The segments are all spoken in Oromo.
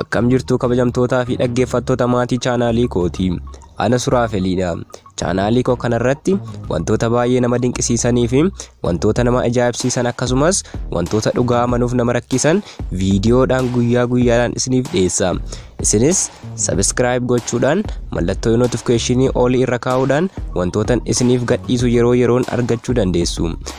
Akkam jirtu kabajamtootaa fi dhaggeeffattoota maatii chaanaalii kooti. Ana Suraafeliidha. Chaanaalii koo kanarratti wantoota baay'ee nama dinqisiisanii fi wantoota nama ajaa'ibsiisan akkasumas wantoota dhugaa amanuuf nama rakkisan viidiyoodhaan guyyaa guyyaadhaan isiniif dhiyeessa. Isinis sabiskiraayib gochuudhaan mallattoo notifikeeshinii olii irra kaa'uudhaan wantootan isiniif gadhiisu yeroo yeroon argachuu dandeessu.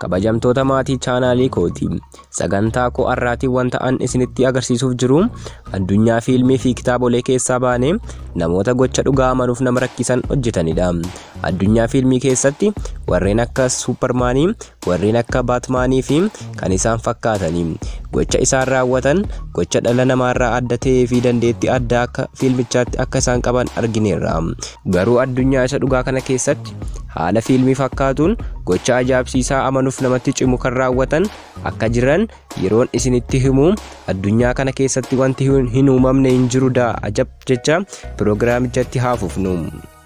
kabajamtoota maatii chaanaalii kooti sagantaa koo har'aatiin wanta an isinitti agarsiisuuf jiru addunyaa fiilmii fi kitaabolee keessaa baanee namoota gocha dhugaa amanuuf nama rakkisan hojjetanidha addunyaa fiilmii keessatti warreen akka suuparmaanii warreen akka baatmaanii fi kan isaan fakkaatanii gocha isaan raawwatan gocha dhala namaarraa adda ta'ee fi dandeettii addaa akka fiilmichaatti akka isaan qaban argineerra Garuu addunyaa isa dhugaa kana keessatti haala fiilmii fakkaatuun gocha ajaa'ibsiisaa amanuuf namatti cimu kan raawwatan akka jiran yeroon isinitti himu addunyaa kana keessatti wanti hin uumamne hin jiru daa ajab jecha piroogiraamichatti haafufnu.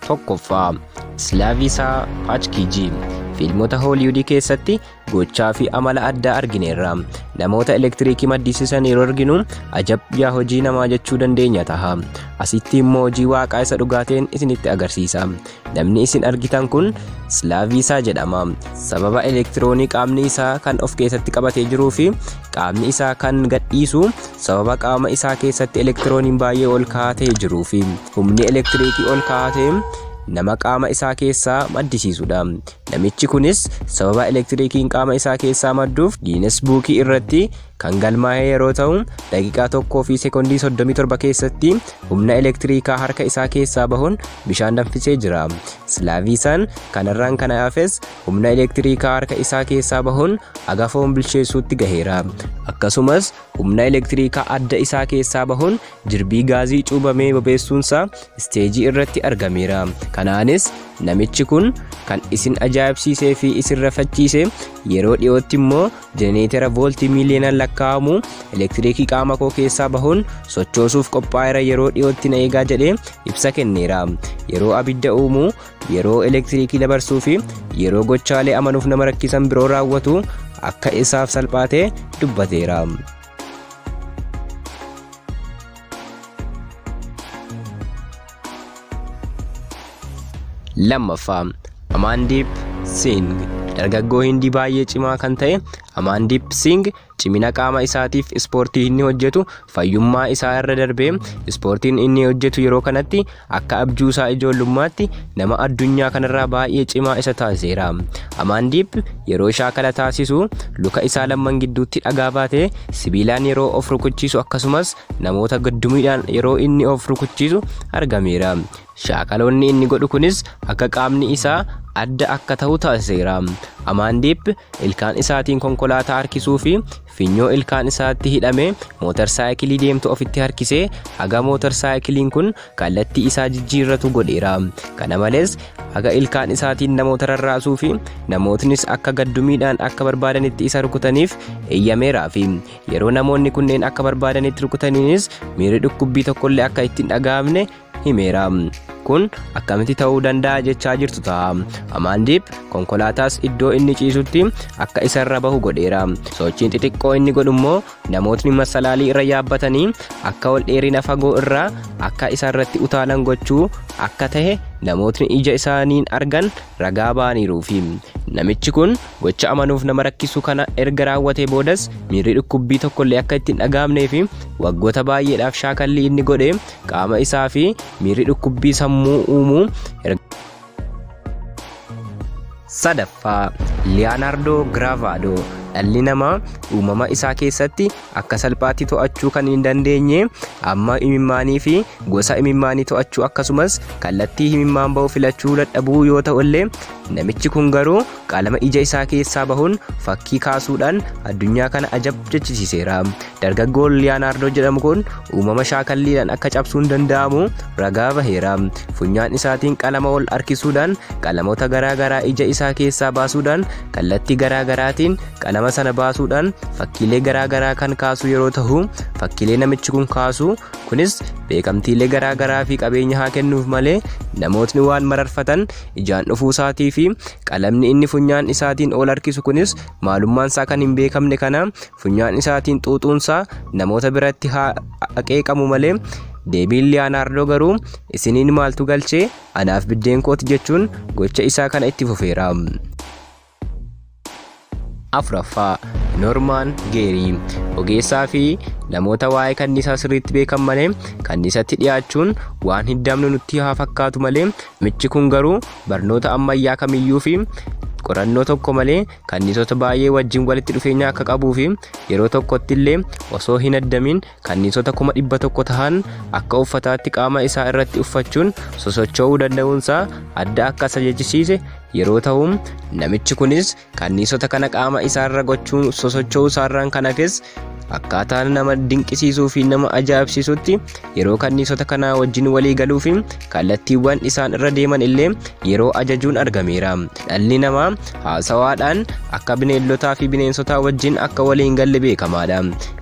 Tokkoffaa Islaaviisaa Paachkiijii fiilmota Hooliwudii keessatti gochaa fi amala addaa argineerra. Namoota elektiriikii maddisiisan yeroo arginu ajab yaa hojii namaa jechuu dandeenya taha. Asitti immoo hojii waaqaa isa dhugaateen isinitti agarsiisa. Namni isin argitan kun Slaaviisaa jedhama. Sababa elektiroonii qaamni isaa kan of keessatti qabatee jiruu fi qaamni isaa kan gadhiisu sababa qaama isaa keessatti elektirooniin baay'ee ol ka'aa ta'e jiruu fi humni elektiriikii ol ka'aa ta'e nama qaama isaa keessaa maddisiisudha. Namichi kunis sababa elektiriikiin qaama isaa keessaa madduuf Giines Buukii irratti kan galmaa'ee yeroo ta'u daqiiqaa tokkoo fi sekondii 37 keessatti humna elektiriikaa harka isaa keessaa bahuun bishaan danfisee jira. Silaaviisaan kanarraan kana hafes humna elektiriikaa harka isaa keessaa bahuun agafoon bilcheessuutti gaheera. Akkasumas humna elektiriikaa adda isaa keessaa bahuun Jirbii gaazii cuubamee bobeessuunsaa isteejii irratti argameera. Kanaanis namichi kun kan isin ajaa'ibsiisee fi isin rafachiise yeroo dhiyootti immoo jenereetera vooltii miiliyoonaan lakkaa'amu elektiriikii qaama koo keessaa bahuun sochoosuuf qophaa'eera yeroo dhiyootti na eegaa jedhee ibsa kenneera. Yeroo abidda uumu, yeroo elektiriikii dabarsuu fi yeroo gochaalee amanuuf nama rakkisan biroo raawwatu akka isaaf salphaate dubbateera. lammaffaa Amaandiip Siing dargaggoo Hindii baay'ee cimaa kan ta'e Amaandiip Siing cimina qaama isaatiif ispoortii inni hojjetu fayyummaa isaa irra darbee ispoortiin inni hojjetu yeroo kanatti Akka abjuu isaa ijoollummaatti nama addunyaa kanarraa baay'ee cimaa isa taasiseera. Amaandiip yeroo shaakala taasisu luka isaa lamman gidduutti dhagaa baatee sibiilaan yeroo of rukuchiisu akkasumas namoota gaddumiidhaan yeroo inni of rukuchiisu argameera. Shaakaloonni inni godhu kunis akka qaamni isaa adda akka ta'u taasiseera. Amaandiip ilkaan isaatiin konkolaataa harkisuu fi Finyoo ilkaan isaatti hidhame mootar saayikilii deemtu ofitti harkisee haga mootar saayikiliin kun kallattii isaa jijjiirratu godheera. Kana malees haga ilkaan isaatiin namoota rarraasuu fi namootnis akka gaddumiidhaan akka barbaadanitti isa rukutaniif eeyyameeraa fi yeroo namoonni kunneen akka barbaadanitti rukutaniinis miirri dhukkubbii tokkollee akka itti hin dhaga'amne himeera. Kun akkamitti ta'uu danda'a jechaa jirtu ta'a. Amaandiip konkolaataas iddoo inni ciisutti akka isarra bahu godheera. Sochiin xixiqqoo inni godhu immoo namootni masalaalii irra yaabbatanii akka ol dheerina fagoo irraa akka isarratti utaalan gochuu akka ta'e namootni ija isaaniin argan ragaa ba'aniiruufi. Namichi kun gocha amanuuf nama rakkisu kana erga raawwatee boodas miirri dhukkubbii tokkollee akka itti hin dhagaamnee fi waggoota baay'eedhaaf shaakallii inni godhe qaama isaa fi miirri dhukkubbii sammuu uumu sadaffaa liyaanaardoo giraavaadoo dhalli namaa uumama isaa keessatti akka salphaatti to'achuu kan hin dandeenye amma imimmaanii fi gosa imimmaanii to'achuu akkasumas kallattii imimmaan ba'u filachuu dadhabuu yoo ta'ullee namichi kun garuu Qalama ija isaa keessaa bahuun fakkii kaasuudhaan addunyaa kana ajab jechisiiseera. Dargaggoon Liyaanaardoo jedhamu kun uumama shaakalliidhaan akka cabsuun danda'amu ragaa baheera. Funyaan isaatiin qalama ol harkisuudhaan qalamoota garaa garaa ija isaa keessaa baasuudhaan kallattii garaa garaatiin qalama sana baasuudhaan fakkiilee garaa garaa kan kaasu yeroo tahu fakkiilee namichi kun kaasu kunis beekamtiilee garaa garaa fi qabeenya haa kennuuf malee namootni waan mararfatan ijaan dhufuu isaatii fi qalamni inni funyaan isaatiin ol harkisu kunis maalummaan isaa kan hin beekamne kana funyaan isaatiin xuuxuun isaa namoota biratti haa qeeqamu malee deebiin liyaanaardoo garuu isiniin maaltu galchee anaaf biddeen kooti jechuun gocha isaa kana itti fufeera. afraffaa Normaan Geerii ogeessaa fi namoota waa'ee kanniisaa sirriitti beekan malee kanniisatti dhiyaachuun waan hiddamnu nutti haa fakkaatu malee michi kun garuu barnoota ammayyaa kamiyyuu fi qorannoo tokko malee kanniisota baay'ee wajjin walitti dhufeenya akka qabuu fi yeroo tokkotti illee osoo hin addamin Kanniisota kuma dhibba tokko tahan akka uffataatti qaama isaa irratti uffachuun sosocho'uu danda'uunsaa adda akka isa jechisiise yeroo tahu, namichi kunis kanniisota kana qaama isaarra gochuun sosocho'uu isaarraan kan hafes akkaataa nama dinqisiisuu fi nama ajaa'ibsiisutti yeroo kanniisota kanaa wajjin walii galuu fi Kallattiiwwan isaan irra deeman illee yeroo ajajuun argameera. Dhalli namaa haasawaadhaan akka bineeldotaa fi bineensotaa wajjin akka walii hin galle beekamaadha.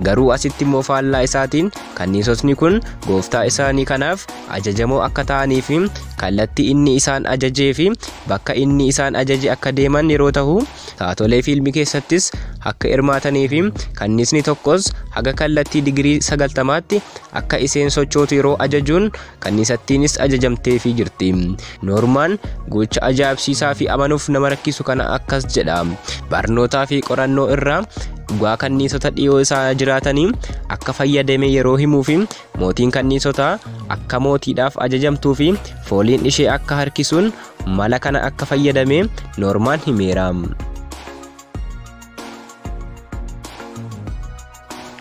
Garuu asitti immoo faallaa isaatiin kanniisotni kun gooftaa isaanii kanaaf ajajamoo akka ta'anii fi kallattii inni isaan ajajee fi bakka inni isaan ajaje akka deeman yeroo tahu taatolee fiilmii keessattis akka hirmaatanii fi kanniisni tokkos haga kallattii digirii sagaltamaatti akka iseen sochootu yeroo ajajuun kanniisattiinis ajajamteefii jirti. Noormaan gocha ajaa'ibsiisaa fi amanuuf nama rakkisu kana akkas jedha. Barnootaa fi qorannoo irraa dhugaa kanniisota dhiyoo isaa jiraatanii akka fayyadame yeroo himuu fi mootiin kanniisotaa akka mootiidhaaf ajajamtuu fi fooliin ishee akka harkisuun mala kana akka fayyadame Noormaan himeera.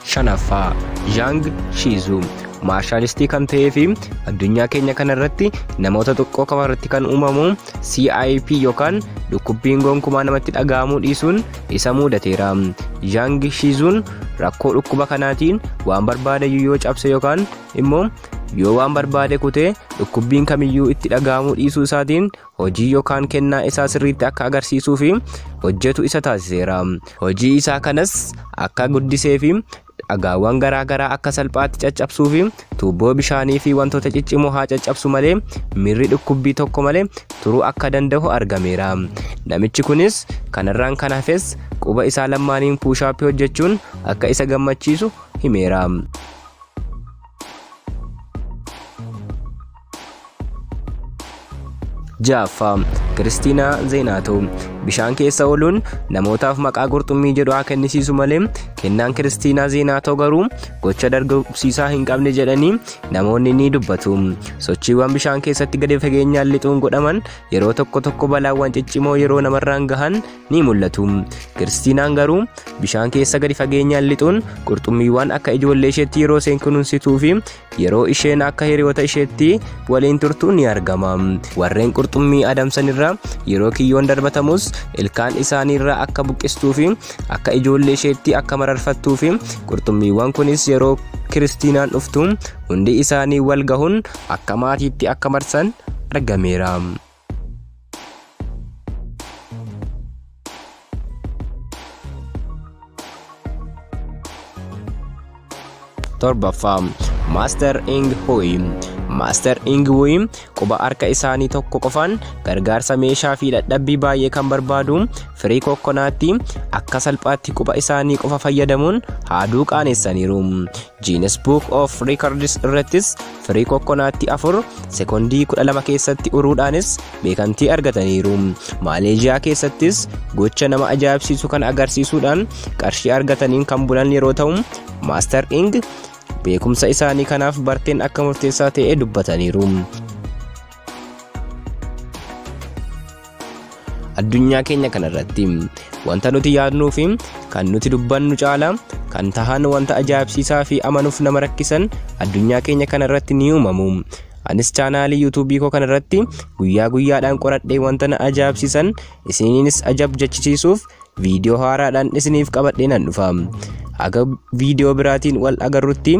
Shanaffaa, Zhaang Shiizuu maarshalistii kan ta'ee fi addunyaa keenya kana irratti namoota xiqqoo qofa irratti kan uumamu CIP yookaan dhukkubbiin gonkumaa namatti dhaga'amuu dhiisuun isa muudateera. Zhaang Shiizuun rakkoo dhukkuba kanaatiin waan barbaadayyuu yoo cabse yookaan immoo yoo waan barbaade kutee dhukkubbiin kamiyyuu itti dhaga'amuu dhiisuu isaatiin hojii yookaan kennaa isaa sirriitti akka agarsiisuu fi hojjetu isa taasiseera. Hojii isaa kanas akka guddisee fi dhagaawwan garaa garaa akka salphaatti caccabsuu fi tuubboo bishaanii fi wantoota ciccimoo haa caccabsu malee miirri dhukkubbii tokko malee turuu akka danda'u argameera. Namichi kunis kanarraan kan hafes quba isaa lammaaniin puushaappii hojjechuun akka isa gammachiisu himeera. Ja'affaa Kiristiinaa Zeenaatoo bishaan keessa ooluun namootaaf maqaa qurxummii jedhu haa kennisiisu malee kennaan Kiristiinaa Zeenaatoo garuu gocha dargaggeessaa hin qabne jedhanii namoonni ni dubbatu. Sochiiwwan bishaan keessatti gadi fageenyaan lixuun godhaman yeroo tokko tokko balaawwan ciccimoo yeroo namarraan gahan ni mul'atu. Kiristiinaan garuu bishaan keessa gadi fageenyaan lixuun qurxummiiwwan akka ijoollee isheetti yeroo isheen kunuunsituu fi Yeroo isheen akka hiriyoota isheetti waliin turtu ni argama. Warreen qurxummii adamsan irra yeroo kiyyoon darbatamus ilkaan isaanii irra akka buqqistuu fi akka ijoollee isheetti akka mararfattuu fi qurxummiiwwan kunis yeroo Kiristiinaan dhuftu hundi isaanii wal gahuun akka maatiitti akka marsan argameera. torbaffaa maaster ing huyi maaster ing huyi quba harka isaanii tokko qofaan gargaarsa meeshaa fi dadhabbii baay'ee kan barbaadu firii kokkonaatti akka salphaatti quba isaanii qofa fayyadamuun haaduu qaanessaniiru Guinness Book of Records irrattis firii kokkonaatti afur sekondii 12 keessatti uruudhaanis beekamtii argataniiru. Maaleezhiyaa keessattis gocha nama ajaa'ibsiisu kan agarsiisuudhaan qarshii argataniin kan bulan yeroo ta'u, Maaster Ing beekumsa isaanii kanaaf barteen akka murteessaa ta'e dubbataniiru. addunyaa keenya kana irratti wanta nuti yaadnuu fi kan nuti dubbannu caala kan tahan wanta ajaa'ibsiisaa fi amanuuf nama rakkisan addunyaa keenya kana irratti ni uumamu. Anis chaanaalii yuutuubii koo kana irratti guyyaa guyyaadhaan qoradhee wanta na ajaa'ibsiisan isiniinis ajab jechisiisuuf viidiyoo haaraadhaan isiniif qabadhee nan dhufa. Haga viidiyoo biraatiin wal agarrutti